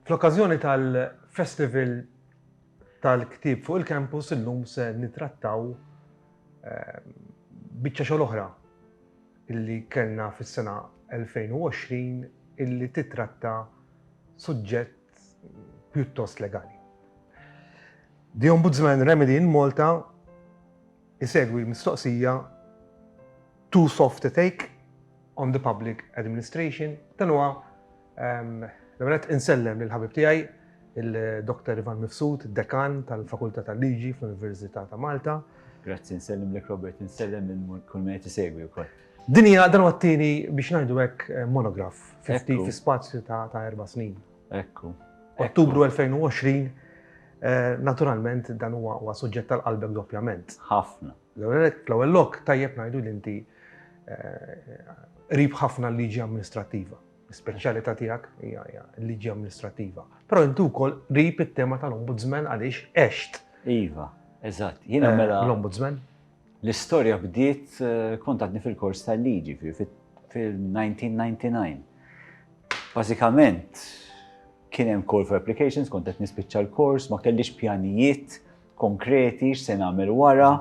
Fl-okkażjoni tal-Festival tal-Ktieb fuq il-Campus illum se nitrattaw ehm, biċċa xogħol oħra illi kellna fis-sena 2020 illi titratta suġġett pjuttost legali. The Ombudsman Remedy in Malta Isegwi l-mistoqsija Too soft to take on the public administration? Dan huwa L-ewwel nett insellem lill-ħabib tiegħi il-Dr. Ivan Mifsud, Dekan tal-Fakultà tal-Liġi fl-Università ta' Malta. Grazzi, nsellimlek Robert, insellem lil kull min qed isegwi wkoll. Din hija dan huwa t-tieni biex ngħidu hekk monograf fi spazju ta' erba' snin. Ekku. Ottubru 2020, eh, naturalment dan huwa huwa suġġett tal-qalbek doppjament. Ħafna. L-ewwel lok tajjeb ngħidu li inti eh, qrib ħafna l-liġi amministrattiva. Speċjalità tiegħek hija hija l-liġi amministrattiva. Però inti wkoll qrib it-tema tal-ombudsman għaliex għext Iva, eżatt. Jiena eh, mela l-ombudsman. L-istorja bdiet kont għadni fil-kors tal-liġi, fil-1999. Bażikament, kien hemm call for applications, kont qed nispiċċa l-kors, ma kellix pjanijiet konkreti x'se nagħmel wara.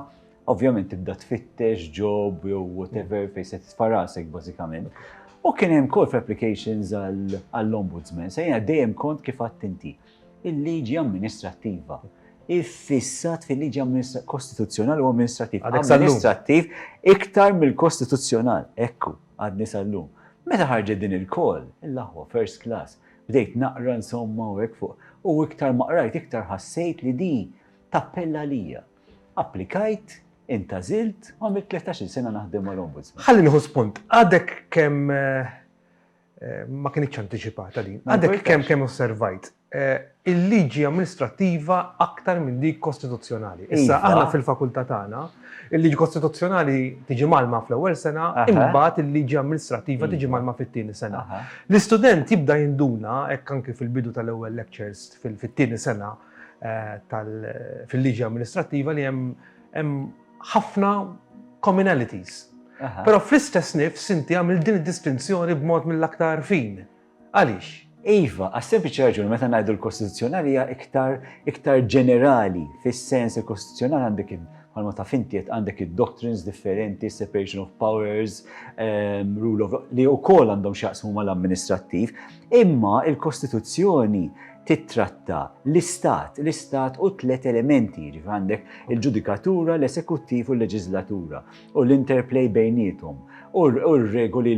Ovvjament tibda tfittex job jew whatever fejn se tfarasek bażikament. U kien hemm call for applications għall-ombudsman, se dejjem kont kif għadt inti. il-liġi amministrattiva iffissat fil-liġi kostituzzjonali u amministrattiva. Amministrattiv iktar mill-kostituzzjonal, ekku, għadni sal-lum. Meta ħarġet din il-kol, il-laħwa first class, bdejt naqra insomma u hekk fuq, u iktar maqrajt iktar ħassejt li di tappella lija. Applikajt, intażilt, u għamilt 13 sena naħdem mal-Ombudsman. Ħalli nieħu spunt, għadek kemm eh, ma kienx antiċipata din. Għadek kemm kemm osservajt il-liġi amministrattiva aktar minn dik kostituzzjonali. Issa iva. aħna fil-fakultà tagħna, il-liġi kostituzzjonali tiġi malma fl-ewwel sena, imbagħad il-liġi amministrattiva iva. tiġi malma fit-tieni sena. L-istudent jibda jinduna hekk anke fil-bidu tal-ewwel lectures fit-tieni sena eh, fil-liġi amministrattiva li hemm ħafna communalities. Però fl-istess nifs inti għamil din id-distinzjoni b'mod mill-aktar fin. Għaliex? Iva, għas-sempliċi raġuni meta ngħidu l-Kostituzzjonali hija iktar iktar ġenerali fis-sens il-Kostituzzjonali għandek bħalma ta' fintiet għandek id-doctrines differenti, separation of powers, um, rule of li wkoll għandhom x'jaqsmu mal-amministrattiv, imma il-Kostituzzjoni tittratta l-istat, l-istat u tliet elementi, ġif għandek il-ġudikatura, l-esekuttiv u l-leġislatura u l-interplay bejnietom u r-regoli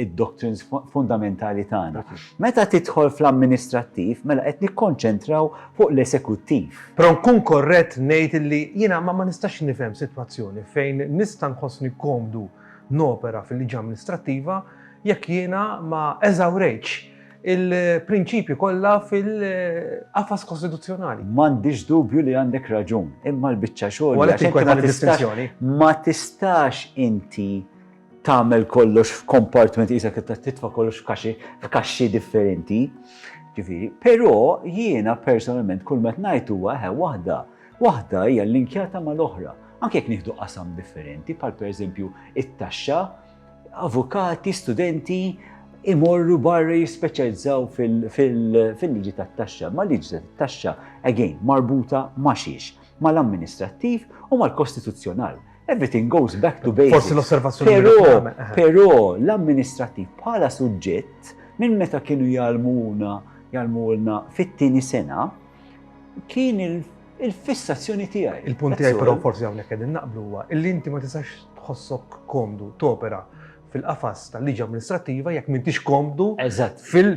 id-doctrines fundamentali tagħna. Meta tidħol fl-amministrattiv, mela qed nikkonċentraw fuq l-esekuttiv. Però nkun korrett ngħid li jiena ma nistax nifhem sitwazzjoni fejn nista' nħossni komdu nopera fil-liġi amministrattiva jekk jiena ma eżawrejtx il-prinċipji kollha fil-qafas kostituzzjonali. M'għandix dubju li għandek raġun, imma l-biċċa xogħol ma tistax inti tagħmel kollox f'kompartment isek titfa' kollox f'kaxxi f'kaxxi differenti. Ġifieri, però jiena personalment kull met ngħid huwa ħe waħda, waħda hija linkjata mal-oħra. Anke jekk nieħdu qasam differenti, bħal pereżempju it-taxxa, Avukati, studenti imorru barra jispeċjalizzaw fil-liġi tat-taxxa, ma liġi tat-taxxa, again, marbuta ma xiex, mal-amministrattiv u mal-kostituzzjonal. Everything goes back to basics. Forsi l-osservazzjoni. Però, eh. però l-amministrattiv bħala suġġett minn meta kienu jalmuna jalmulna fit-tieni sena kien il il-fissazzjoni tiegħi. Il-punt tiegħi però forsi hawnhekk qegħdin naqblu huwa li inti ma tistax tħossok komdu topera fil-qafas tal-liġi amministrattiva jekk m'intix komdu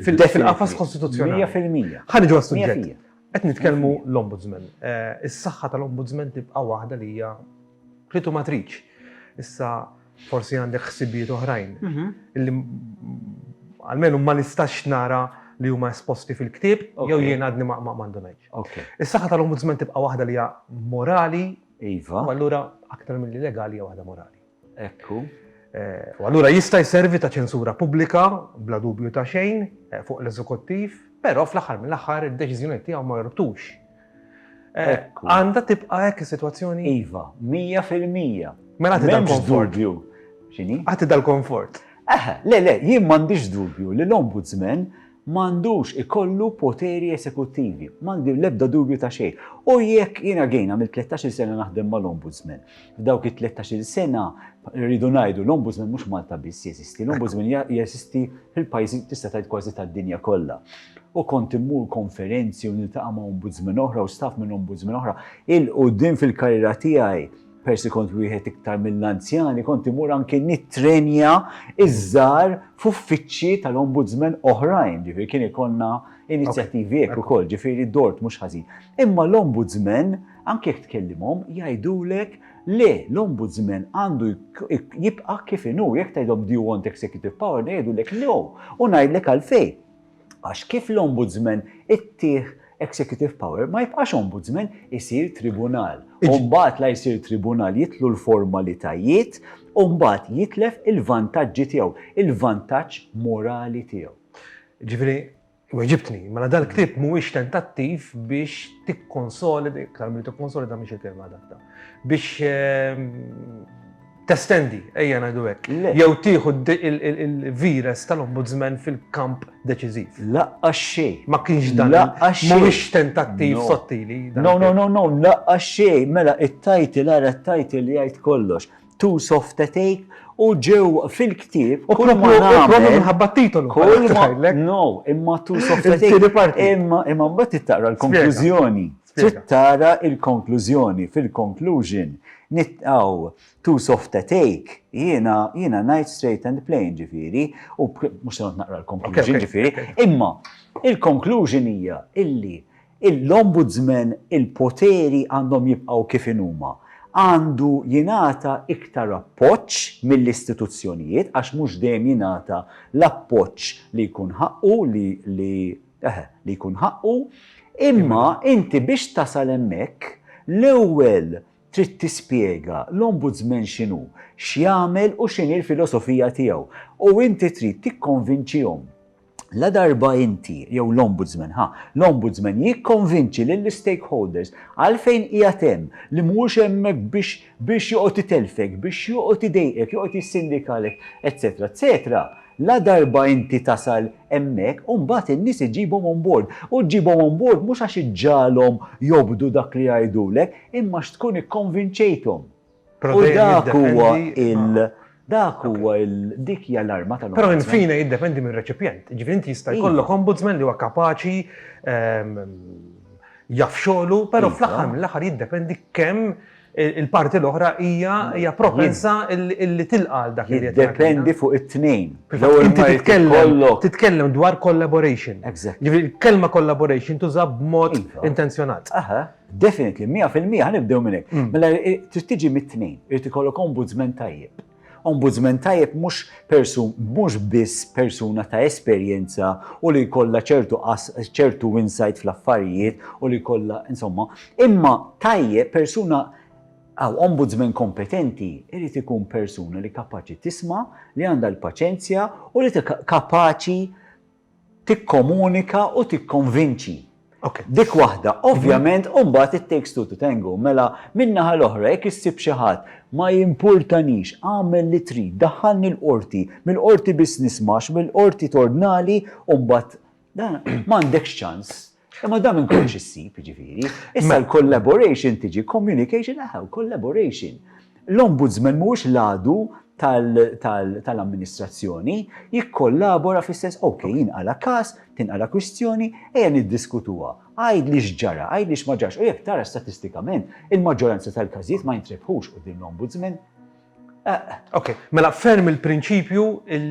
fil-qafas kostituzzjonali. 100%. Ħa niġu għas-suġġett. Qed nitkellmu l-ombudsman. Eh, is-saħħa tal-ombudsman tibqa' waħda li hija plitu matriċ. Issa Forsi għandek ħsibijiet oħrajn li almenu ma nistax nara li huma esposti fil-ktieb jew jien għadni ma ndunajtx. Is-saħħa tal-Ombudsman tibqa' waħda li hija morali, u allura aktar milli legali hija waħda morali. Ekku. U allura jista' jservi ta' ċensura pubblika bla dubju ta' xejn fuq l-Eżekuttiv, però fl-aħħar mill-aħħar id-deċiżjonijiet tiegħu ma jorbtux Għandha tibqa' hekk is-sitwazzjoni? Iva, mija fil-mija. Mela għati dal-konfort. X'inhi? Għati dal-konfort. Eħe, le, le, jien m'għandix dubju li l-ombudsman m'għandux ikollu poteri esekuttivi, m'għandi l-ebda dubju ta' xejn. U jekk jiena għejn għamil 13 sena naħdem mal-ombudsman, F'dawk it-13-il sena rridu ngħidu l-Ombudsman mhux Malta biss jeżisti, l-Ombudsman jeżisti fil-pajjiżi tista' tgħid kważi tad-dinja kollha. U kont immur konferenzi u niltaqa' ma' Ombudsman oħra u staff minn Ombudsman oħra. Il-qudiem fil-karriera tiegħi persi kont wieħed iktar mill-anzjani, kont imur anke nittrenja iż-żar f'uffiċċji tal-ombudsman oħrajn, ġifieri kien ikonna inizjattivi hekk ukoll, ġifieri dort mhux ħażin. Imma l-ombudsman Anke jekk tkellimhom, jgħidulek le, l-Ombudsman għandu jibqa' kif inhu. Jekk tgħidhom do you want executive power, jgħidulek no, u ngħidlek għalfejn. Għax kif l-Ombudsman ittih executive power, ma jibqax Ombudsman, isir tribunal. U mbagħad la jsir tribunal, jitlu l-formalitajiet, u mbagħad jitlef il-vantaġġi tiegħu, il-vantaġġ morali tiegħu. Jiġifieri, Weġibtni, mela dal ktib mhuwiex tentattiv biex tikkonsolida, iktar milli tikkonsolida mhix il-kelma adakta, biex ehm, testendi, ejja ngħidu hekk, jew tieħu il-vires tal-ombudsman fil-kamp deċiżiv. Laqqa xej. Ma kienx dan. Laqqa xej. Mhuwiex tentattiv sottili. No, no, no, no, laqqa xej. Mela it-tajtil ara t-tajtil jgħid kollox. Too soft to take u ġew fil-ktieb. U propju minħabba t-titolu. Kull ma no, imma too soft to take. Imma imma mbagħad tittara l-konklużjoni. Tittara l-konklużjoni fil-conclusion nitqaw too soft to take. Jiena jiena ngħid straight and plain ġifieri u mhux se naqra l-konklużjoni ġifieri, imma il-konklużjoni hija illi L-Ombudsman il-poteri għandhom jibqgħu kif inhuma. Għandu jingħata iktar appoġġ mill-istituzzjonijiet għax mhux dejjem jingħata l-appoġġ li jkun ħaqqu li li eħe li jkun ħaqqu. Imma inti biex tasal hemmhekk l-ewwel trid tispjega l-Ombudsman x'inhu, x'jagħmel u x'inhi l-filosofija tiegħu. U inti trid tikkonvinċihom. Ladarba inti, jew l-Ombudsman, ha, l-Ombudsman jikkonvinċi lill-istakeholders għalfejn qiegħed hemm, li mhuwiex hemmhekk biex biex joqgħod itelfek, biex joqgħod idejqek, joqgħod jissindikalek, eċċetera eċċetera, ladarba inti tasal hemmhekk, imbagħad in-nies iġġibhom on board. U ġġibhom on board mhux għax iġġagħalhom jobdu dak li jgħidulek, imma għax tkun ikkonvinċejthom. U dak huwa il- dak huwa il- dik hija l-arma tal-Ombudsman. Però in fine jiddependi mir-reċipjent. Jiġifieri inti jista' jkollok Ombudsman li huwa kapaċi, jaf xogħlu, però fl-aħħar mill-aħħar jiddependi kemm il-parti l-oħra hija propensa li tilqa' għal dak li qed jagħmel. Jiddependi fuq it-tnejn. Inti titkellem dwar collaboration. Jiġifieri l-kelma collaboration tuża b'mod intenzjonat. Definitely, 100% ħanibdew minn hekk. Mm. Mela eh, trid tiġi mit-tnejn, irid ikollok ombudsman tajjeb. Ombudsman tajjeb mhux persun mhux biss persuna ta' esperjenza u li jkollha ċertu ċertu insight fl-affarijiet u li jkollha insomma, imma tajjeb persuna għaw ombudsman kompetenti irid ikun persuna li kapaċi tisma, li għandha l-paċenzja u li kapaċi tikkomunika u tikkonvinċi. Dik waħda. Ovvjament, u mbagħad it takes two to tango. Mela, min-naħa l-oħra, jekk issib xi ħadd, ma jimpurtanix, agħmel li trid, daħħalni l-Qorti, mill-Qorti biss nisma' għax mill-Qorti tordnali u mbagħad, dan, m'għandekx ċans. Imma dam minn kollox issib, jiġifieri. Issa l-collaboration tiġi communication aħew, collaboration. L-ombudsman mhuwiex l-għadu tal-amministrazzjoni jikkollabora fl-istess ok, jinqala każ, tinqala kwistjoni, ejja niddiskutuha. Għajd li x'ġara, għajd li x'ma ġarx, u jekk tara statistikament il-maġġoranza tal-każijiet ma jintrebħux qudiem l-ombudsman. Ok, mela ferm il-prinċipju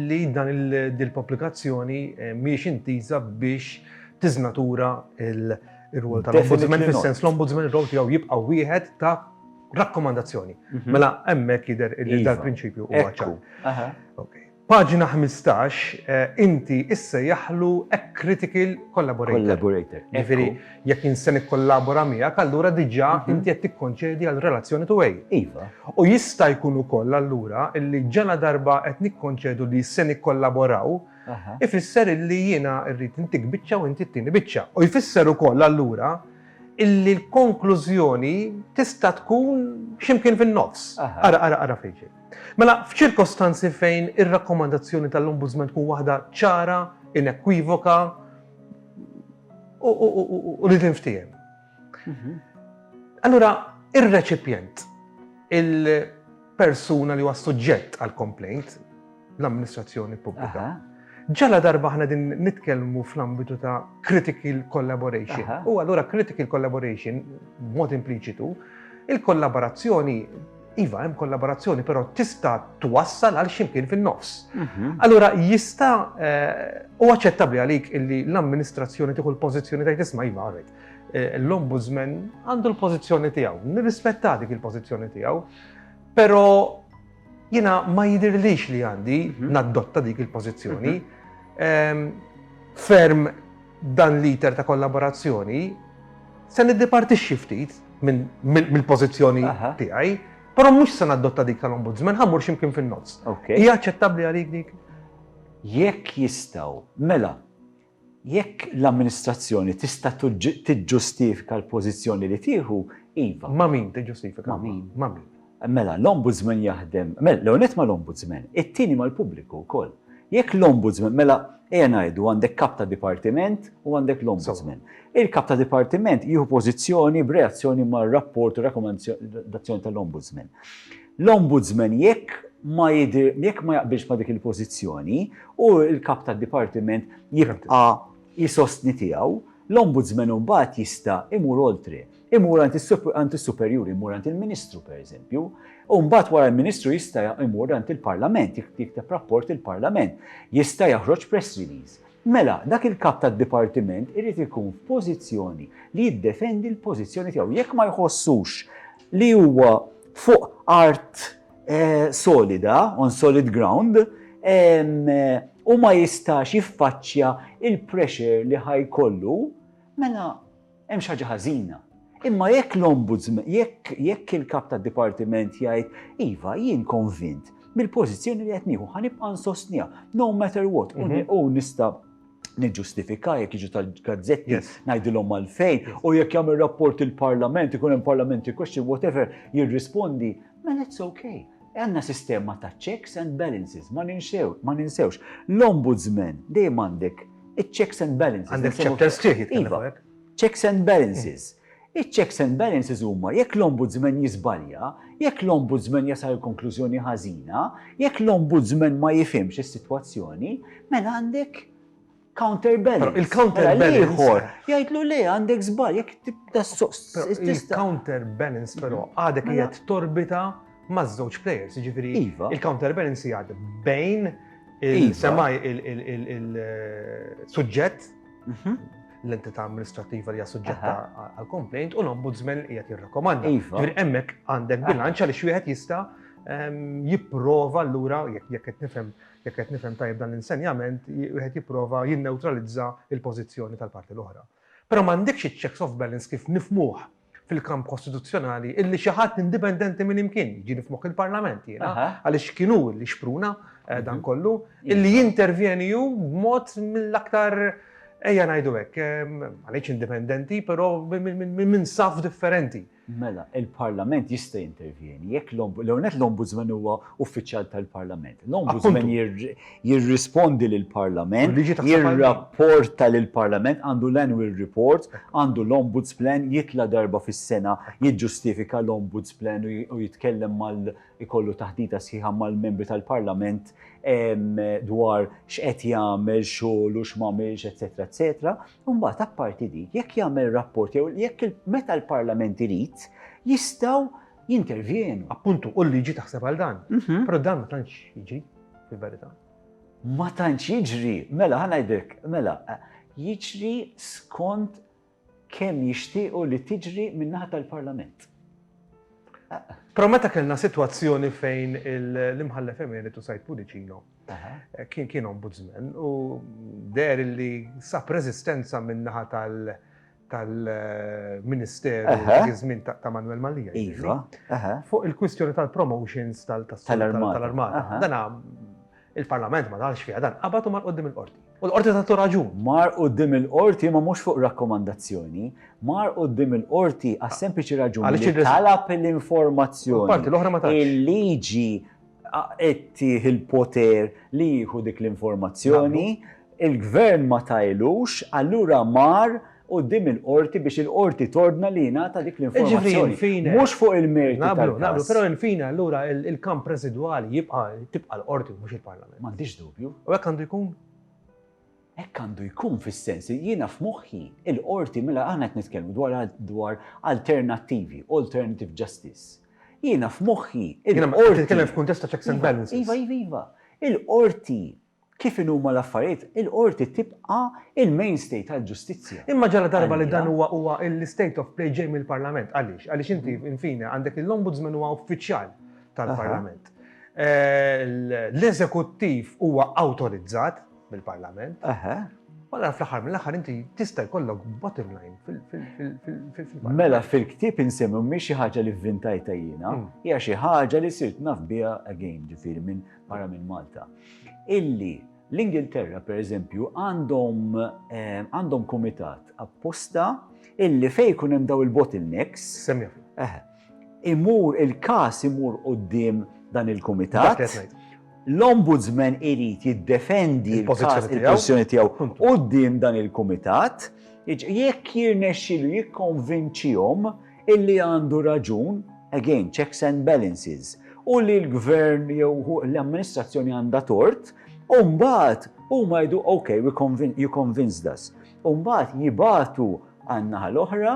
li dan il-pubblikazzjoni eh, miex intiża biex tiżnatura il-rwol tal-ombudsman, fil-sens l-ombudsman rol tiegħu jibqa' wieħed ta' rakkomandazzjoni. Mhm. Mela hemmhekk jidher li iva. dal-prinċipju huwa ċar. Paġna ħmistax, Inti issejjaħlu a critical collaborator. Collaborator, ekku. Jiġifieri jekk jien se nikkollabora miegħek, allura diġà inti qed tikkonċedi għal relazzjoni to a. Iva. U jista' jkun ukoll allura illi ġaladarba qed nikkonċedu li se nikkollaboraw, ifisser illi jiena rrid intik biċċa u inti ttieni biċċa. U jfisser ukoll allura illi l-konklużjoni tista' tkun xi mkien fin-nofs. Ara, ara, ara fejn ġej. Mela, f'ċirkostanzi fejn ir-rakkomandazzjoni tal-Ombudsman tkun waħda ċara, inekwivoka u li tinftiehem. Allura, ir-reċipjent, il-persuna li huwa suġġett għal complaint, l-amministrazzjoni pubblika, ġala darba ħna din nitkellmu fl-ambitu ta' critical collaboration. U allura critical collaboration, mod impliċitu, il-kollaborazzjoni Iva, hemm kollaborazzjoni, però tista' twassal għal ximkien fin-nofs. Mhm. Allura jista' u eh, aċċettabbli għalik illi l-amministrazzjoni tieħu l-pożizzjoni tajt isma' iva għarret. Eh, l-ombudsman għandu l-pożizzjoni tiegħu, nirrispetta dik il-pożizzjoni tiegħu, però jiena ma jidirlix li għandi mhm. naddotta dik il-pożizzjoni. Mhm. Ehm, ferm Dan l-iter ta' kollaborazzjoni se niddipartixxi ftit mill-pożizzjoni tiegħi, però mhux se nadotta dik tal-Ombudsman, ħammur x'imkien fin-nofs. Hija aċċettabbli għalik dik? Jekk jistgħu, mela, jekk l-amministrazzjoni tista' tiġġustifika l-pożizzjoni li tieħu, iva. Ma' min tiġġustifika? Ma' min? Ma' min? Mela, l-Ombudsman jaħdem, mela, l-ewwel nett mal-Ombudsman, it-tieni mal-pubbliku wkoll. Jekk l-Ombudsman, mela, ejja ngħidu għandek Kap ta' Dipartiment u għandek l-Ombudsman. Il-Kap ta' Dipartiment jieħu pożizzjoni b'reazzjoni mar-rapport u rakkomandazzjoni tal-Ombudsman. L-Ombudsman jekk ma jidhir, jekk ma jaqbilx ma' dik il-pożizzjoni, hu l-Kap tad-Dipartiment jibqa' jsostni tiegħu, l-Ombudsman imbagħad jista' imur oltre. Imur għand is-superjuri, imur għand il-Ministru pereżempju, u mbagħad wara l-Ministru jista' imur għand il-Parlament, jikteb rapport il-Parlament, jista' jaħroġ press release. Mela, dak il-kap tad-dipartiment irid ikun f'pożizzjoni li jiddefendi l-pożizzjoni tiegħu. Jekk ma jħossux li huwa fuq art eh, solida, on solid ground, eh, u ma jistax jiffaċċja il-pressure li ħajkollu, mela Hemm xi ħaġa ħażina. Imma jekk l-Ombudsman, jekk jekk il-Kap tad-Dipartiment jgħid, iva, jien konvint mill-pożizzjoni li qed nieħu ħa nibqa' nsostniha, no matter what, u mhm. nista' niġġustifika jekk jiġu tal-gazzetti ngħidilhom għalfejn u jekk jagħmel rapport il-Parlament, ikun hemm parlamenti question, whatever, jirrispondi, mela it's okay. Għanna sistema ta' checks and balances, ma ninsewx. L-ombudsman dejjem għandek Iċ-checks and balances. Għandek chapters sħiħ jitkellem iva. fuq. Checks and balances. Iċ-checks and balances huma jekk l-ombudsman jiżbalja, jekk l-ombudsman jasal il-konklużjoni ħażina, jekk l-ombudsman ma jifhimx is-sitwazzjoni, mela għandek counterbalance. Il-counterbalance. Mela ieħor, jgħidlu le għandek żbal, jekk tibda Il-counterbalance però għadek qiegħed torbita ma' żewġ players, ġifiri iva. il-counterbalance jgħad bejn il-semaj iva. il-suġġett eh, mhm. l-entità amministrativa li suġġetta għal-complaint u l-ombudsman li jgħat jirrakomanda. Iva. Ġifiri emmek għandek bilanċa li xwieħed jista' ehm, jipprova l-lura jekk qed nifhem jekk qed nifhem tajjeb dan l-insenjament, wieħed jipprova jinneutralizza il-pożizzjoni tal-parti l-oħra. Però m'għandekx iċ-checks of balance kif nifmuh fil-kamp kostituzzjonali illi xi ħadd indipendenti minn imkien, jiġifieri f'moħħ il-Parlament jiena, għaliex kien hu li xpruna eh, dan mhm. kollu, illi jintervjeni hu b'mod mill-aktar ejja ngħidu hekk, eh, għaliex indipendenti, però minn saf differenti. Mela, il-Parlament jista' jintervjeni, jekk l-Ombudsman huwa uffiċjal tal-Parlament. L-Ombudsman jirrispondi lill-Parlament, jirrapporta lill-Parlament, għandu l-annual report, għandu l-Ombuds Plan, jitla' darba fis-sena jiġġustifika l-Ombuds Plan u jitkellem mal-, ikollu taħdita sħiħa mal-Membri tal-Parlament dwar x'qed jagħmel xogħlu, x'm'għamilx, eċċetera eċċetera. U mbagħad apparti dik, jekk jagħmel rapport jew jekk meta l-Parlament irid, jistgħu, jintervjenu. Appuntu, u l-liġi taħseb għal dan. Però dan ma tantx jiġri, fil-verità. Ma tantx jiġri, mela ħanajdek, mela, jiġri skont kemm jixtiequ li tiġri min-naħa tal-Parlament. Però meta kellna sitwazzjoni fejn l-imħallef emeritu Said Pudicino kien kien ombudsman u der li sab reżistenza min-naħa tal- tal-Ministeru dak iż-żmien ta' Manwel Mallia. Iva. Fuq il-kwistjoni tal-promotions tal-armata. Dan il-Parlament ma dalx fiha dan qabad u mar qudiem il-qorti. U l-qorti tagħtu raġun. Mar qudiem il-qorti ma mhux fuq rakkomandazzjoni, mar qudiem il-qorti għas-sempliċi raġuni li talab l-informazzjoni. Parti l-oħra ma tantx. Il-liġi Qed tih il-poter li jieħu dik l-informazzjoni, il-Gvern ma tailux, allura mar quddiem il-Qorti biex il-Qorti tordna li jingħata dik l-informazzjoni. Mhux fuq il-merti tal-każ. Naqblu, naqblu, però in fine allura il-kamp residwali jibqa' tibqa' l-Qorti mhux il-Parlament. M'għandix dubju. U hekk għandu jkun? Hekk għandu jkun fis-sens li jiena f'moħħi il-Qorti mela aħna qed nitkellmu dwar alternattivi, alternative justice. Jiena f'moħħi, il-Qorti. Qed titkellem f'kuntest ta' checks and balances. Iva, iva, iva. Il-Qorti, kif inhu huma l-affarijiet, il-Qorti tibqa' il-mainstay tal-ġustizzja. Imma ġaladarba li dan huwa huwa l-state of play ġej mill-Parlament. Għaliex? Għaliex inti, in fine, għandek lill-Ombudsman huwa uffiċjal tal-Parlament. L-Eżekuttiv huwa awtorizzat. mill-Parlament. Allora fl-aħħar mill-aħħar inti tista' jkollok bottom line fil-Parlament. Mela fil-ktieb insemmu mhix xi ħaġa li vvintajta jiena, hmm. hija xi ħaġa li sirt naf biha again ġifieri minn barra minn Malta. Illi l-Ingilterra pereżempju għandhom eh, għandhom kumitat apposta illi fejn jkun hemm daw il-bottlenecks. Semmi. imur il-każ imur quddiem dan il-kumitat, l-Ombudsman irid jiddefendi l-pożizzjoni tiegħu quddiem dan il-kumitat, jekk jirnexxielu jikkonvinċihom illi għandu raġun, again, checks and balances, u li l-Gvern jew l-amministrazzjoni għandha tort, u mbagħad huma jgħidu ok, you convinced us. U mbagħad jibagħtu għan-naħa l-oħra,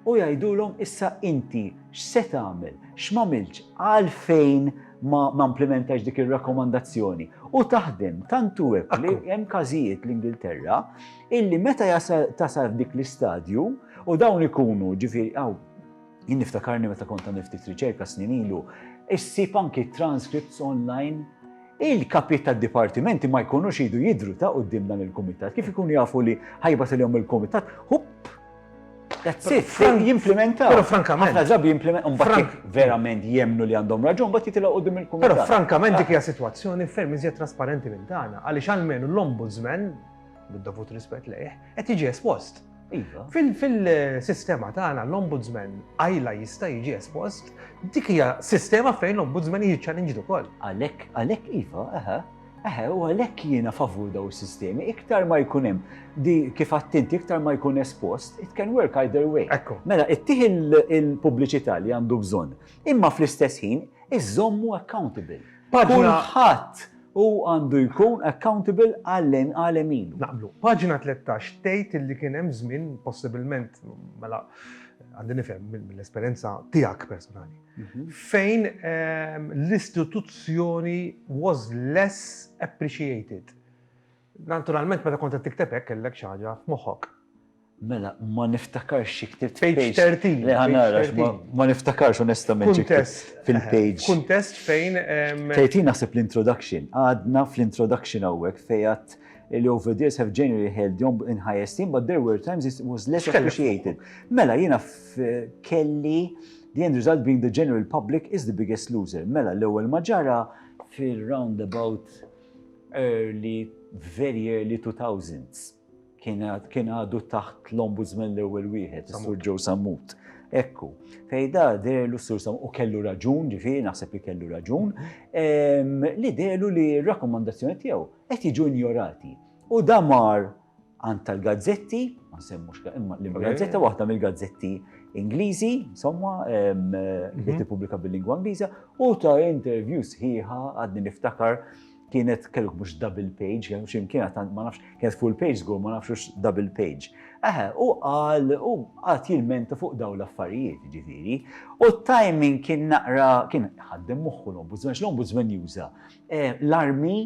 U jgħidulhom, Issa inti x'se tagħmel? X'm'għamiltx? Għalfejn ma mplimentajtx dik ir-rakkomandazzjoni? U taħdem tant hu hekk li hemm każijiet l-Ingilterra illi meta jasal tasal f'dik l-istadju u dawn ikunu ġifieri hawn jien niftakarni meta kont għamil ftit riċerka snin ilu, issib anki transcripts online il-kapit tad dipartimenti ma jkunux idu jidru ta' qudiem dan il-kumitat, kif ikunu jafu li ħajbatilhom il-kumitat, hupp That's it. Frank jimplementa. Pero frankament. Ħafna drabi jimplementa. Frank verament jemnu li għandhom raġun, bat jitila u dim il-kumitat. Pero frankament dik hija situazzjoni ferm iżjed trasparenti minn tagħna, għaliex għalmenu l-ombudsman, bid-dovut rispett lejh, qed jiġi espost. Iva. Fil-sistema tagħna l-ombudsman għajla jista' jiġi espost, dik hija sistema fejn l-ombudsman jiċċalinġ ukoll. Għalhekk, għalhekk iva, aha. Eħe, u għalhekk jiena favur dawn is-sistemi, iktar ma jkun hemm di kif għadt inti iktar ma jkun espost, it can work either way. Ekku. Mela, ittih il-pubbliċità li għandu bżonn, imma fl-istess ħin iżommu accountable. Paġna ħadd u għandu jkun accountable għallen għalem ilu. Naqblu. Paġna 13 tgħid illi kien hemm żmien possibilment mela għandi nifhem mill-esperjenza tiegħek personali. fejn l-istituzzjoni was less appreciated. Naturalment, meta kont qed tikteb hekk kellek xi ħaġa f'moħħok. Mela, ma niftakarx xi ktibt page 30. Le ħanara, ma niftakarx onestament xi fil-page. Kuntest fejn. 30 naħseb l-introduction. Għadna fl-introduction hawnhekk fejn li over the years have generally held you in high esteem, but there were times it was less appreciated. Mela, jina kelli The end result being the general public is the biggest loser. Mela l-ewwel ma ġara fir-round about early, very early 2000s. Kien għadu taħt l-ombudsman l-ewwel wieħed, Sur Joe Sammut. Ekku, fejda derlu Sur Sammut u kellu raġun, ġifieri naħseb li kellu raġun, ehm, li derlu li r-rakkomandazzjoni tiegħu qed jiġu injorati. U damar għand tal-gazzetti, ma nsemmux imma l-gazzetta waħda mill-gazzetti Ingliżi, insomma, mhm. li tippubblika bil-lingwa Ingliża, u ta' interview sħiħa għadni niftakar kienet kelluk mhux double page, kien xim kienet ma nafx, kienet full page żgur ma nafx double page. Eħe, u għal u għat jilmenta fuq daw l-affarijiet ġifiri. U timing kien naqra, kien ħaddem moħħu l-ombudsman, l-ombudsman juża eh, l-armi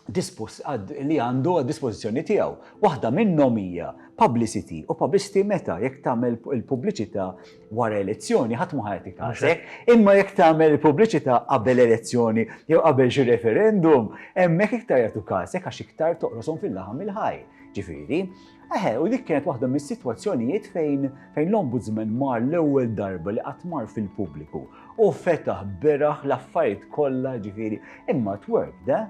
li għandu għad-dispożizzjoni tiegħu. Waħda minnhom hija publicity u publicity meta jekk tagħmel il-pubbliċità wara elezzjoni ħadd mhu ħa jagħtik każek, imma jekk tagħmel il-pubbliċità qabel elezzjoni jew qabel xi referendum hemmhekk iktar jagħtu każek għax iktar toqroshom fil-laħam il-ħaj. Ġifieri, Eħe, u dik kienet waħda mis-sitwazzjonijiet fejn fejn l-Ombudsman mar l-ewwel darba li qatt mar fil-pubbliku u fetaħ beraħ l-affarijiet kollha ġifieri imma it worked, eh?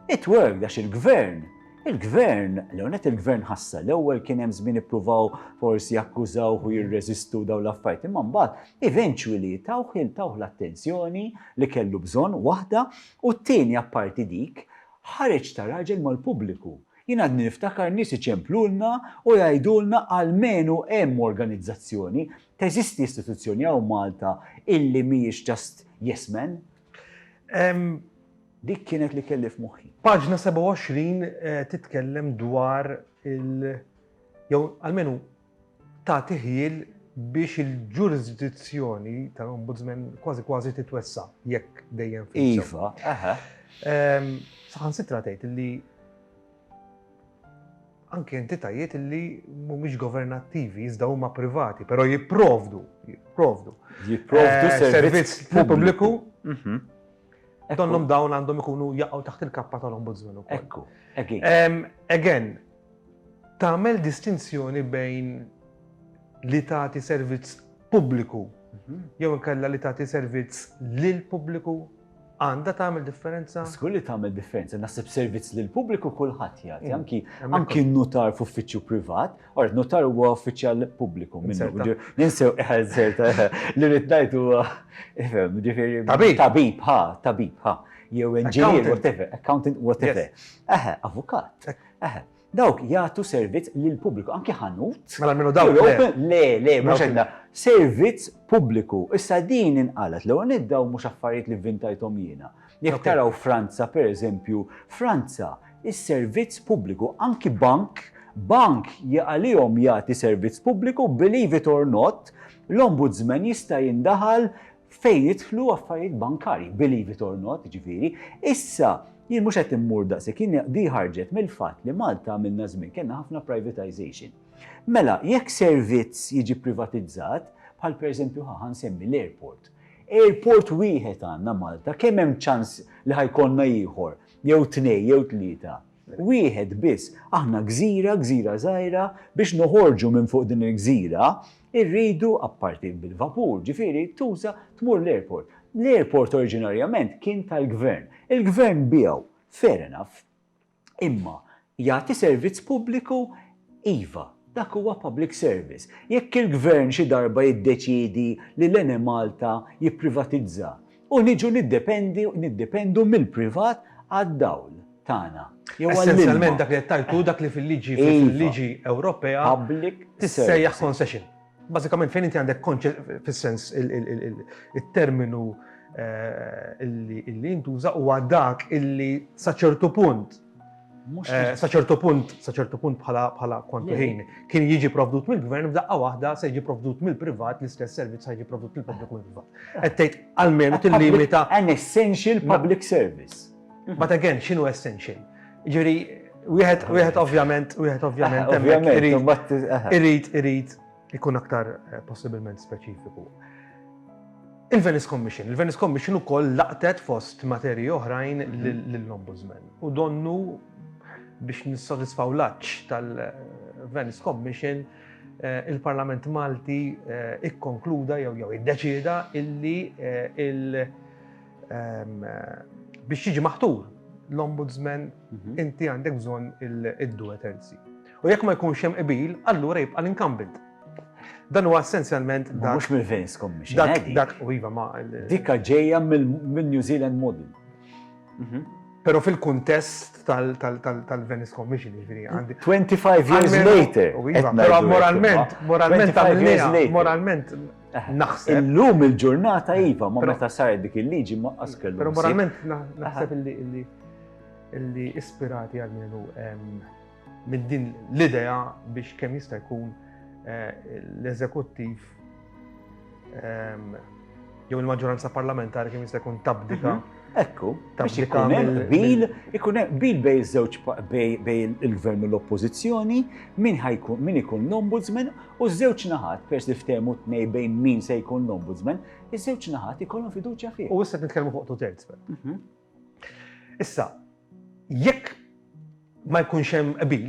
It worked għax il-Gvern Il-gvern, l-għonet il-gvern ħassa, l-ewwel kien hemm żmien ippruvaw forsi jakkużaw u jirreżistu daw l-affarijiet, imma mbagħad eventually tawħ il tawħ l-attenzjoni li kellu bżonn waħda u t-tieni apparti dik ħareġ ta' raġel mal-pubbliku. Jien għadni niftakar nies iċemplulna u jgħidulna almenu hemm organizzazzjoni, teżisti istituzzjoni hawn Malta illi mhijiex just yes men. Dik kienet li kelli f'moħħi. Paġna 27 titkellem dwar il jew almenu tagħti ħjiel biex il-ġurisdizzjoni tal-Ombudsman kważi kważi titwessa jekk dejjem fil Iva, aha. Ehm, saħansitra tgħid li anke entitajiet li mhumiex governattivi, iżda huma privati, però jipprovdu, jipprovdu. Jipprovdu eh, servizz pubbliku. Mhm. Donnhom dawn għandhom ikunu jaqgħu taħt il-kappa tal-ombudsman ukoll. Ekku, again. Again, Tagħmel distinzjoni bejn li tagħti servizz pubbliku jew inkella li tagħti servizz lill-pubbliku? Għandha tagħmel differenza? Żgur li tagħmel differenza. Naħseb servizz lill-pubbliku kulħadd jagħti, mm. anki anki nutar f'uffiċċju privat, or nutar huwa uffiċjal pubbliku minnu. Ninsew ħażerta li rid ngħid huwa ġifieri tabib ħa, tabib ħa jew engineer, whatever, accountant, whatever. Avukat. Eħe, dawk jagħtu servizz lill-pubbliku, anki ħanut. Mela minnu dawk le. Le, le, mhux għandha. Servizz pubbliku. Issa din inqalet l-ewwel nett dawn mhux affarijiet li vvintajthom jiena. Jekk taraw Franza pereżempju, Franza is-servizz pubbliku anki bank, bank għalihom jagħti servizz pubbliku, believe it or not, l-ombudsman jista' jindaħal fejn jidħlu affarijiet bankarji, believe it or not, jiġifieri, issa jien mhux qed immur daqshekk, jien di ħarġet mill-fatt li Malta għamilna żmien kellna ħafna privatization. Mela, jekk servizz jiġi privatizzat, bħal pereżempju ħa ħansemmi l-airport. Airport wieħed għandna Malta, kemm hemm ċans li ħajkollna ieħor, jew tnej, jew tlieta. Wieħed biss, aħna gżira, gżira żgħira, biex noħorġu minn fuq din il-gżira, irridu, apparti bil-vapur, ġifieri, tuża tmur l-airport. L-airport oriġinarjament kien tal-Gvern. Il-Gvern biegħu, fair enough. Imma jagħti servizz pubbliku? Iva, dak huwa public service. Jekk il-Gvern xi darba jiddeċiedi li l-Enemalta jipprivatizza, U niġu niddependi, niddependu mill-privat għad-dawl tagħna. Essenzjalment dak li qed tajtu dak li fil-liġi iva. fil-liġi Ewropea tissejjaħ concession. Bażikament fejn inti għandek fis-sens il-terminu eh, illi jintuża huwa dak illi sa ċertu punt Eh, sa ċertu punt, sa ċertu punt bħala bħala kontu ħin, kien jiġi provdut mill-gvern f'daqqa waħda se jiġi provdut mill-privat l-istess servizz se jiġi provdut mill-pubbliku mill-privat. Qed tgħid għalmenu tillimita an essential public service. But again, x'inhu essential? Ġieri, wieħed wieħed ovvjament, wieħed ovvjament, irid irid irid Ikun aktar eh, possibilment speċifiku. Il-Venice Commission. Il-Venice Commission u koll laqtet fost materi oħrajn mhm. l-Ombudsman. U donnu biex nissodisfaw laċ tal-Venice Commission eh, il-Parlament Malti eh, ikkonkluda jew jew iddeċida illi eh, il ehm, biex jiġi maħtur l-Ombudsman mhm. inti għandek bżonn id-duet U jekk ma jkunx hemm qbil, allura jibqa' l-incumbent. Dan huwa essenzjalment dak. Mhux mill-Vance Commission. Dak, dak, u iva ma. Dikka ġejja mill-New Zealand model. Mhm. Pero fil-kuntest tal-Venice Commission, ġviri, għandi. 25 years later. Iva, pero moralment, moralment għamilnija, moralment eh, naħseb. Illum il-ġurnata Iva, ma meta saret dik il-liġi ma askellu. Pero moralment naħseb illi illi ispirati għal minu minn din l-idea biex kemm jista' jkun eh, l-eżekuttiv ehm, jew il-maġġoranza parlamentari kemm jista' jkun tabdika. Mhm. Ekku, biex ikun hemm bil, ikun hemm bil bej żewġ bej il-gvern u l-oppożizzjoni, min ħajkun min ikun l-ombudsman u żewġ naħat pers li ftehmu tnej bejn min se jkun l-ombudsman, iż-żewġ naħat ikollhom fiduċja fih. U issa nitkellmu fuq tu terz. Mhm. Issa, jekk ma jkunx hemm qbil,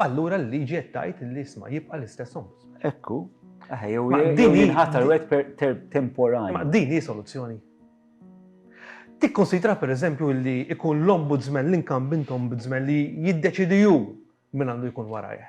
allura l-liġi qed tgħid li isma' jibqa' l-istess ombudsman. Ekku, jew din jinħatar wet temporani. Ma din hi soluzzjoni. Tikkonsidra per eżempju li ikun l-ombudsman, l-inkambint ombudsman li jiddeċidi ju minn għandu jkun warajh.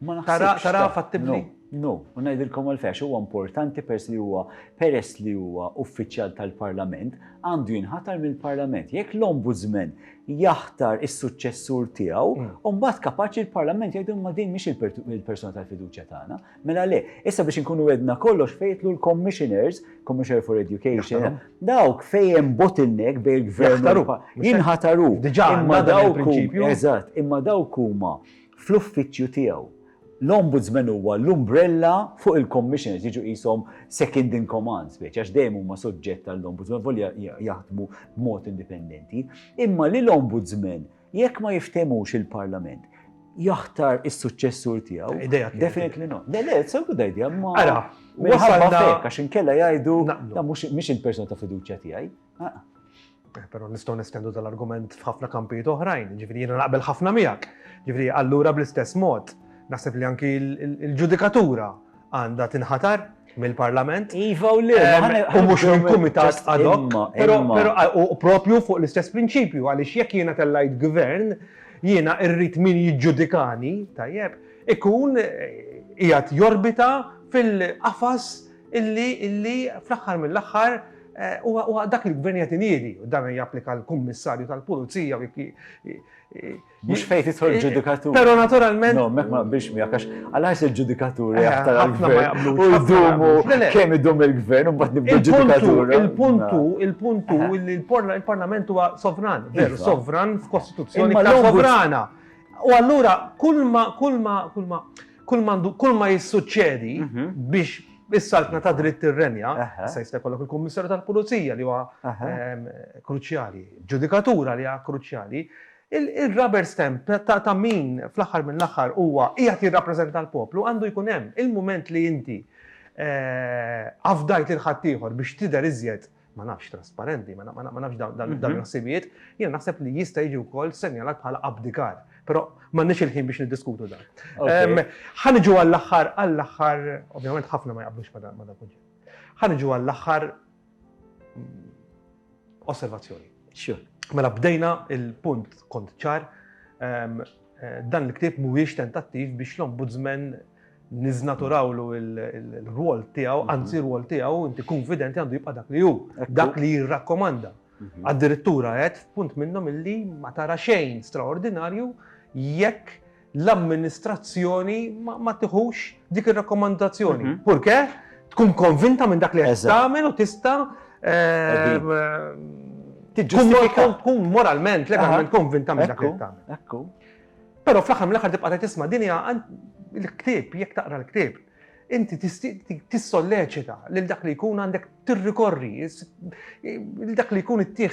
Ma naħsibx. Taraha fattibbli? No, u ngħidilkom għalfejn għax huwa importanti peress li huwa peress li huwa uffiċjal tal-Parlament, għandu jinħatar mill-Parlament. Jekk l-Ombudsman jaħtar is-suċċessur tiegħu, mm. u mbagħad kapaċi l-Parlament jgħidu ma din mhix il-persuna tal-fiduċja tagħna. Mela le, issa biex inkunu għedna kollox fejtlu l-commissioners, Commissioner for Education, dawk fejn bottleneck bejn il-gvern jinħataru. Diġà imma dawk eżatt, imma dawk huma fl-uffiċċju tiegħu. L-Ombudsman huwa l-umbrella fuq il-Commissioners, jiġu qishom second in command speċi, għax dejjem huma soġġett għall-Ombudsman volja jaħdmu b'mod indipendenti, imma li l-Ombudsman jekk ma jiftehmux il-Parlament jaħtar is-suċċessur tiegħu. Idea Definitely no. Le, le, it's a good idea, ma. Ara, wasalna għax inkella jgħidu mhux il-persuna ta' fiduċja tiegħi. Pero nistgħu nestendu dal-argument f'ħafna kampijiet oħrajn, ġifieri jiena naqbel ħafna miegħek. Ġifieri allura bl-istess mod naħseb li anki l-ġudikatura għandha tinħatar mill-Parlament. Iva u le, u mhux minn kumitat ad hoc. Però propju fuq l-istess prinċipju għaliex jekk jiena tellajt gvern, jiena irrid min jiġġudikani, tajjeb, ikun qiegħed jorbita fil-qafas illi illi fl-aħħar mill-aħħar huwa huwa dak li l-gvern jagħti niedi u dan japplika l-kummissarju tal-pulizija u jekk Mhux fejn titħol ġudikatur. Però naturalment. No, mek ma biex miegħek għax għalax il-ġudikatur jaħtar għall-gvern. U jdumu kemm idum il-gvern u mbagħad nibdu ġudikatur. Il-puntu, il-puntu li l-Parlament huwa sovran, veru sovran f'kostituzzjoni sovrana. U allura kull ma kull ma kull ma kull mandu, kull ma jissuċċedi mhm. biex is-saltna ta' dritt ir-renja, sa jista' jkollok il-Kummissarju tal-Pulizija li huwa ehm, kruċjali, ġudikatura li huwa kruċjali, il-rubber stamp ta' min fl-aħħar minn l-aħħar huwa qiegħed jirrappreżenta l-poplu għandu jkun hemm il-mument li inti eh, afdajt il ħaddieħor biex tidher iżjed ma nafx, trasparenti, ma nafx dawn il-ħsibijiet, jiena naħseb li jista' jiġi wkoll senjalat bħala abdikar. Però m'għandniex il-ħin biex niddiskutu dan. Ħaniġu għall-aħħar, għall-aħħar, ovvjament ħafna ma jaqblux ma dan kunċett. Ħaniġu għall-aħħar mm, osservazzjoni. Mela bdejna il-punt kont ċar Dan il-ktieb mhuwiex tentattiv biex l-Ombudsman niżnaturawlu l-rwol tiegħu, mhm. anzi r-rwol tiegħu inti konfidenti għandu jibqa' dak li hu, dak li jirrakkomanda. Mhm. Addirittura qed punt minnhom illi ma tara xejn straordinarju jekk l-amministrazzjoni ma tiħux dik ir-rakkomandazzjoni. Purke tkun konvinta minn dak li qed tagħmel u tista' tiġġustifika tkun moralment, legalment konvinta minn dak li tagħmel. Ekku. Però fl-aħħar mill-aħħar tibqa' tisma' din hija l-ktieb, jekk taqra l-ktieb, inti tissolleċita lil dak li jkun għandek tirrikorri, lil dak li jkun ittieħ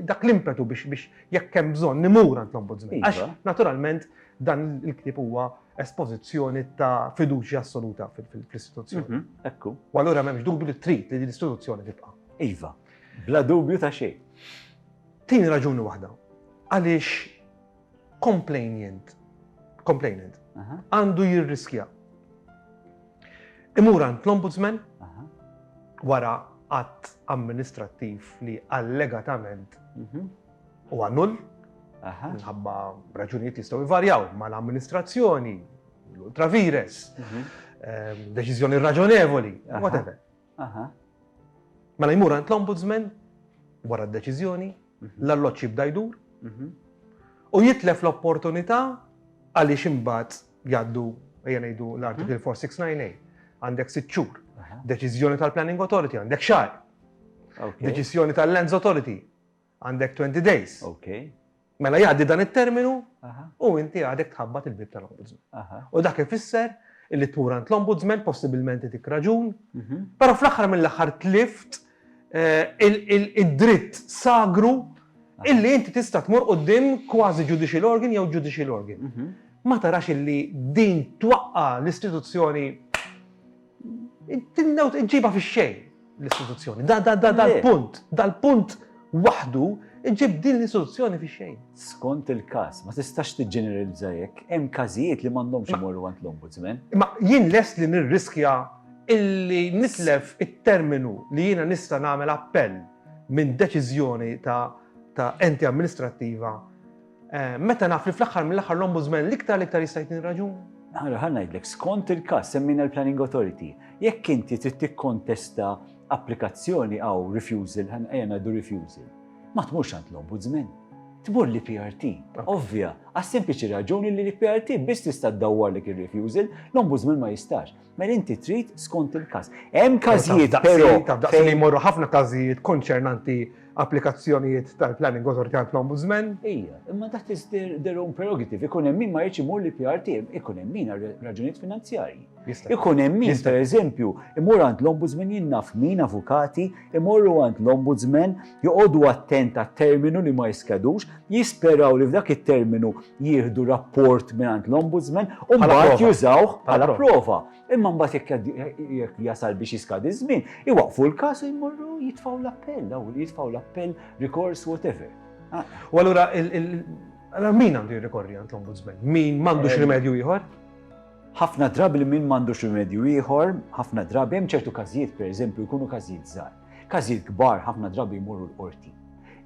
dak l-impetu biex jekk hemm bżonn nimur għand l-ombudsman. Għax naturalment dan il-ktieb huwa espożizzjoni ta' fiduċja assoluta fl-istituzzjoni. Mhm, ekku. U allura m'hemmx dubju li trid li l-istituzzjoni tibqa'. Iva, bla dubju ta' xejn. Tieni raġuni waħda, għaliex complainant, complainant, għandu jirriskja. Imur għand l-ombudsman wara att amministrattiv li allegatament mhm. huwa null, minħabba raġunijiet jistgħu jvarjaw mal-amministrazzjoni, l-ultravires, mhm. ehm, deċiżjoni raġonevoli, whatever. Mela jmur għand l-ombudsman wara d-deċiżjoni, mhm. l-alloċ jibda jdur mhm. u jitlef l-opportunità għaliex imbagħad jgħaddu ejja ngħidu l-Article 4698 għandek sitt xhur. Deċiżjoni tal-Planning Authority għandek xahar. Deċiżjoni tal-Lands Authority Għandek twenty days. Okay. Mela jgħaddi dan it-terminu u inti għadek tħabbat il-bib tal-Ombudsman. U dak ifisser illi tmur għand l-Ombudsman, possibilment itik raġun, mhm. però fl-aħħar mill-aħħar tlift eh, id-dritt sagru illi inti tista' tmur qudiem kważi judicial organ jew judicial organ. Mhm. Ma tarax illi din twaqqa l-istituzzjoni Tinnew iġġibha fix-xejn l-istituzzjoni. Dal-punt, dal-punt waħdu iġib din l-istituzzjoni fi xejn. Skont il-każ, ma tistax tiġġeneralizza hekk, hemm każijiet li m'għandhomx imorru għand l-Ombudsman. Imma jien lest li nirriskja illi nitlef it-terminu li jiena nista' nagħmel appell minn deċiżjoni ta' enti amministrattiva Eh, meta naf li fl-aħħar mill-aħħar l-ombudsman l-iktar l-iktar jista' jtni raġun? Għara ħan ngħidlek, skont il-każ semmina l-Planning Authority, jekk inti trid tikkontesta applikazzjoni għaw refusal, ħan ejja ngħidu refusal, ma tmurx għand l-ombudsman. Tmur li PRT, ovvja, għas sempliċi raġuni li li PRT biss tista' ddawwar li kien refusal, l-ombudsman ma jistax. Mela inti trid skont il-każ. Hemm każijiet però daqsi li jmorru ħafna każijiet konċernanti applikazzjonijiet tal-planning authority għal ombudsman. Ija, imma dak is their own prerogative. Ikun hemm min ma jiġi mur li PRT, ikun hemm min raġunijiet finanzjarji. Ikun hemm min, per eżempju, imur għand l-ombudsman jinnaf min avukati imorru għand l-Ombudsman, joqogħdu attent għat-terminu li ma jiskedux, jisperaw li f'dak it-terminu jieħdu rapport mingħand l-Ombudsman u mbagħad jużawh bħala prova. Imma mbagħad jekk jasal biex jiskadi żmien, iwaqfu l-każ u jmorru jitfgħu l-appell, daw jitfgħu l-appell, rikors, whatever. Ah. U allura min għandu jirrikorri għand l-Ombudsman? Min m'għandux rimedju ieħor? Ħafna drabi li min m'għandux rimedju ieħor, ħafna drabi hemm ċertu każijiet pereżempju jkunu każijiet żgħar. Każijiet kbar ħafna drabi jmorru l-qorti.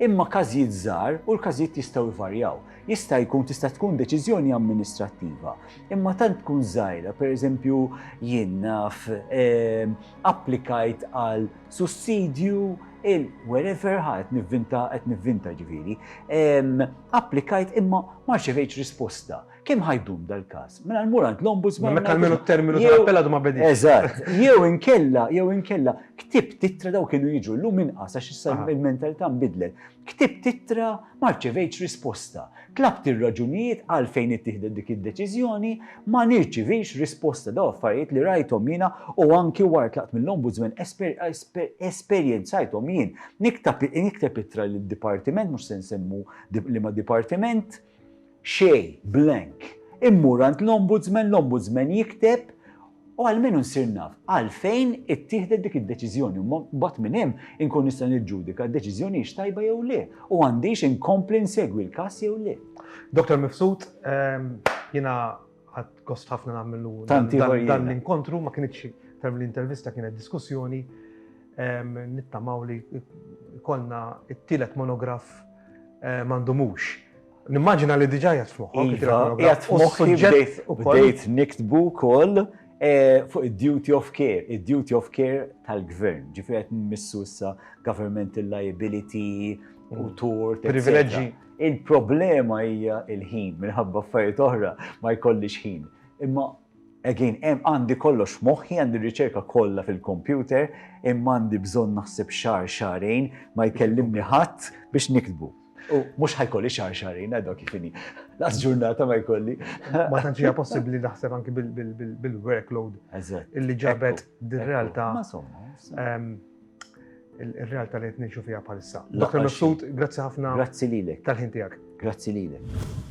Imma każijiet żgħar u l-każijiet jistgħu jvarjaw. Jista' jkun tista' tkun deċiżjoni amministrattiva. Imma tant tkun żgħira, pereżempju jien naf ehm, applikajt għal sussidju il-wherever ħadd nivvinta qed nivvinta ġifieri, ehm, applikajt imma ma rċevejtx risposta. Kemm ħa jdum dal-każ? Mela mmur għand l-Ombudsman. Meta almenu t-terminu tal-appell għadu ma bediex. Eżatt. Jew inkella, jew inkella, ktib titra daw kienu jiġu llum inqas għax issa l-mentalità nbidlet. Ktib titra ma rċevejtx risposta. Tlabt ir-raġunijiet għalfejn ittieħdet dik id-deċiżjoni, ma nirċivix risposta. Daw affarijiet li rajthom jiena u anki wara tlaqt mill-Ombudsman esperjenzajthom jien. Nikteb ittra lid-dipartiment, mhux se nsemmu liema dipartiment, Xejn, blank. Immur għand l-Ombudsman, l-Ombudsman jikteb, u almenu nsir naf għalfejn ittieħdet dik id-deċiżjoni u mbagħad minn hemm inkun nista' niġġudika d-deċiżjoni hix tajba jew le u għandix inkompli nsegwi l-każ jew le. Dottor Mifsud, jiena ħadt gost ħafna nagħmlu dan l-inkontru, ma kinitx term l-intervista kienet diskussjoni, nittamaw li kollna it-tielet monograf m'għandhomux. Nimmaġina li diġà jgħat f'moħħok. Iva, jgħat f'moħħok. Bdejt niktbu kol eh, fuq id-duty of care, id-duty of care tal-gvern, ġifri għet missu issa governmental liability, u mm. tort. Privileġġi. Il-problema hija il-ħin, minħabba affarijiet oħra ma jkollix ħin. Imma Again, hemm għandi kollox f'moħħi, għandi r-riċerka kollha fil-kompjuter, imma għandi bżonn naħseb xahar, xahrejn, ma jkellimni ħadd biex niktbu. U mhux ħajkolli xahar, xahrejn, għadu kif inhi. Laqas ġurnata ma jkolli. Ma tantx hija possibbli naħseb anki bil-workload Eżatt. illi ġabet Ekku, din ekku. realtà Ma somma, somma. ehm, il-realtà li qed ngħixu fiha bħalissa. Dr. Mifsud, grazzi ħafna. Grazzi lilek. Tal-ħin tiegħek. Grazzi lilek.